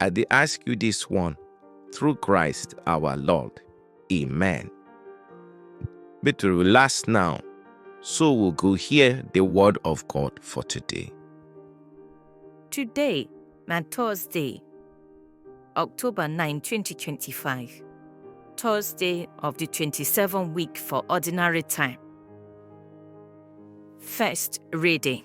I dey ask you this one through Christ our Lord. Amen. Make to relax now, so we go hear the word of God for today. Today na Thursday, October 9, 2025. Thursday of the 27th week for ordinary time. First reading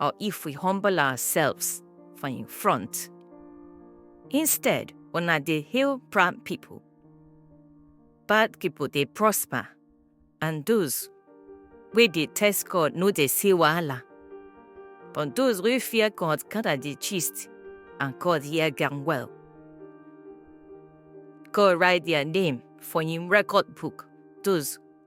or if we humble ourselves for in front. Instead, una dey hail proud people. Bad people dey prosper, and those wey dey test God no dey see wahala. But those wey fear God gather the gist, and God hear them well. God write their name for him record book, those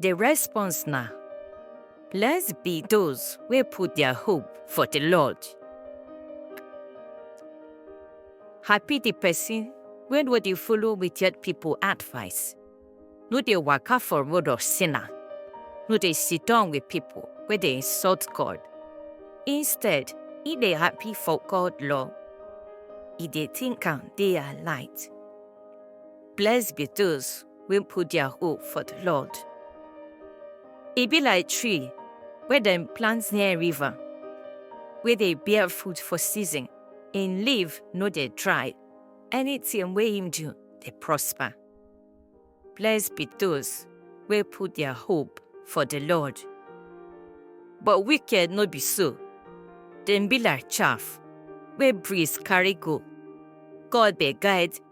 The response na, Blessed be those wey put their hope for the Lord. Happy the person wey no dey follow wicked people advice, no dey waka for road of sinner, no dey sit down with people wey dey insult God. Instead, e dey happy for God law. E dey think am day and night. Blessed be those wey put their hope for the Lord. E be like tree wey dem plant near river, wey dey bear fruit for season, im leaf no dey dry, anything wey im do dey prosper. Blessed be those wey put their hope for the Lord. But wicked no be so, dem be like chaff wey breeze carry go. God dey guide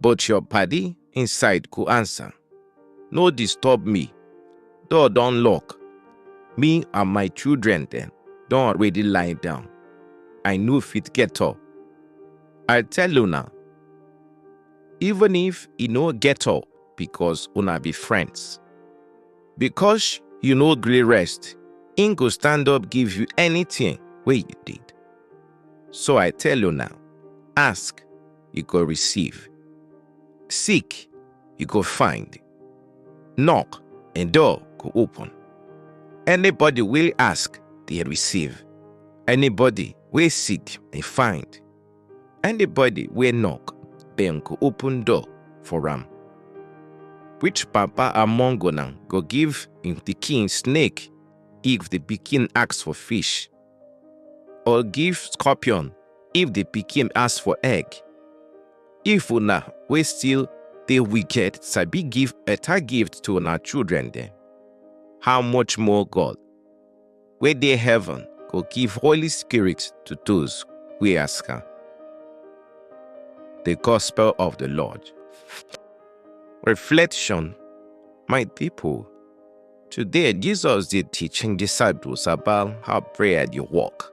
But your paddy inside go answer. No disturb me. Door don lock. Me and my children then don already lie down. I no fit get up. I tell una, even if e no get up because una be friends. Because you no gree rest, im go stand up give you anything wey you need. So I tell una, ask you go receive. Seek, you go find. Knock, and door go open. Anybody will ask, they receive. Anybody will seek, they find. Anybody will knock, then go open door for am. Which papa among una go give him pikin snake if the pikin ask for fish? or give scorpion if the pikin ask for egg. If una wey still dey wicked sabi give better gift to una children dem, how much more God wey dey heaven go give Holy Spirit to those wey ask am. The Gospel of the Lord. Reflection, My people, Today, Jesus dey teach him disciples about how prayer dey work.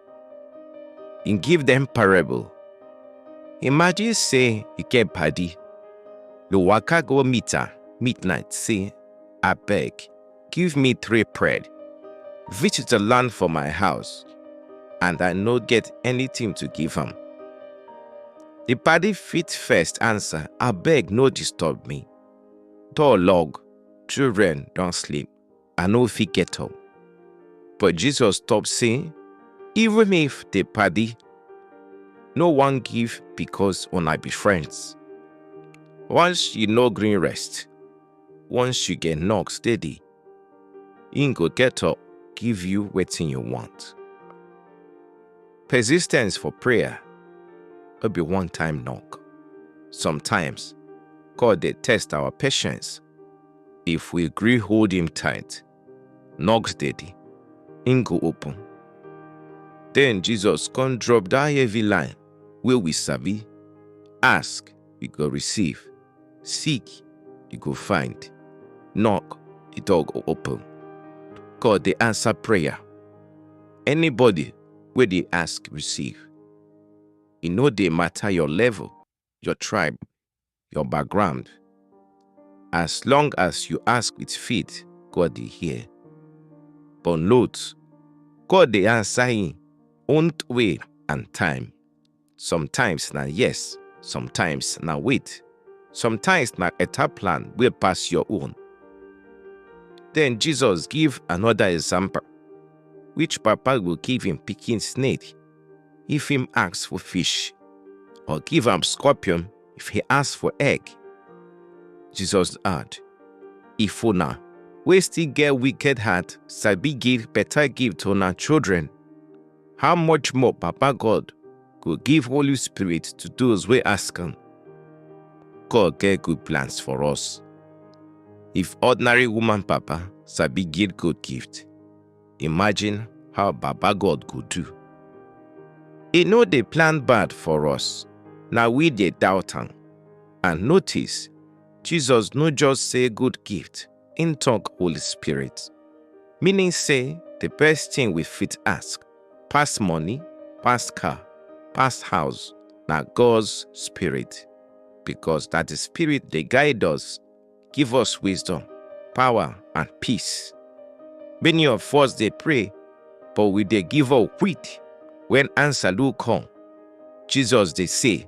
He give them parable. Imagine say you get padi, you waka go meet am midnight say, abeg, give me three bread. Visitor land for my house and I no get anything to give am. The padi fit first answer, abeg no disturb me. Door log, Children don sleep, I no fit get up. But Jesus stop say, even if the party no wan give because una be friends. Once you no gree rest, once you get knock steady, im go get up give you wetin you want. Persistence for prayer no be one-time knock. Sometimes, God dey test our patience. If we gree hold him tight, knock steady, him go open. Then Jesus come drop that heavy line wey we sabi, ask, you go receive, seek, you go find, knock, the door go open. God dey answer prayer. Anybody wey dey ask receive. E no dey matter your level, your tribe, your background. As long as you ask with faith, God dey hear. But note, God dey answer him own way and time. sometimes na yes sometimes na wait sometimes na better plan wey pass your own then jesus give another example which papa go give him pikin snake if him ask for fish or give am scorpion if he ask for egg jesus add if una wey still get wicked heart sabi give better gift to una children how much more Papa God go give Holy Spirit to those wey ask am? God get good plans for us. If ordinary woman Papa sabi give good gift, imagine how Baba God go do. E no dey plan bad for us, na we dey doubt am. And notice, Jesus no just say good gift, Im talk Holy Spirit. Meaning say the best thing we fit ask, pass money, pass car, pass house, na God's Spirit. Because that the Spirit dey guide us, give us wisdom, power, and peace. Many of us dey pray, but we dey give up quick when answer no come. Jesus dey say,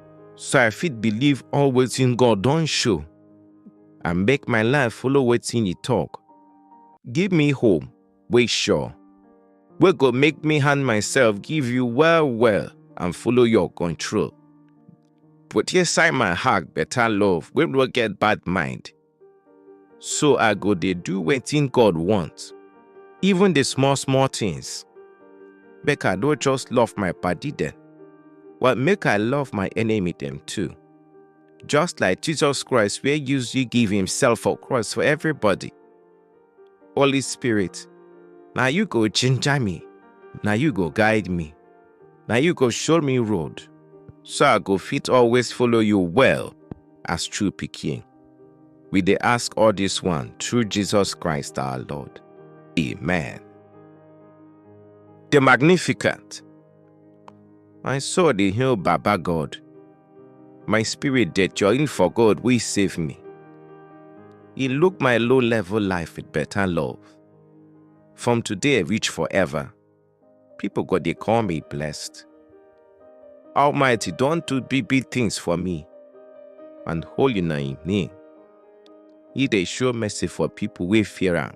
so I fit believe all wetin God don show and make my life follow wetin e talk. Give me hope wey sure, wey go make me hand myself give you well well and follow your control. Put inside my heart better love wey no get bad mind. So I go dey do wetin God want, even the small small things. Make I no just love my padi dem, but make I love my enemy dem too. Just like Jesus Christ wey use you give himself for cross for everybody. Holy Spirit, na you go ginger me, na you go guide me, na you go show me road, so I go fit always follow you well as true pikin. We dey ask all this one through Jesus Christ our Lord. Amen. The Magnificent. My soul dey hail Baba God. My spirit dey join for God wey save me. He look my low level life with better love. From today reach forever, people go dey call me blessed. Almighty don do big big things for me, and holy na him name. He dey show mercy for people wey fear am.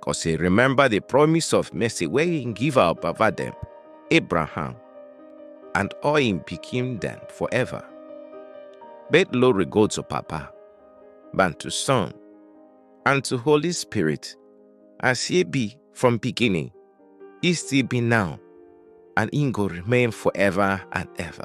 Cause he remember the promise of mercy where he give our Baba them, Abraham, and all him became them forever. Bet glory go to Papa, and to Son, and to Holy Spirit, as he be from beginning, he still be now, and he go remain forever and ever.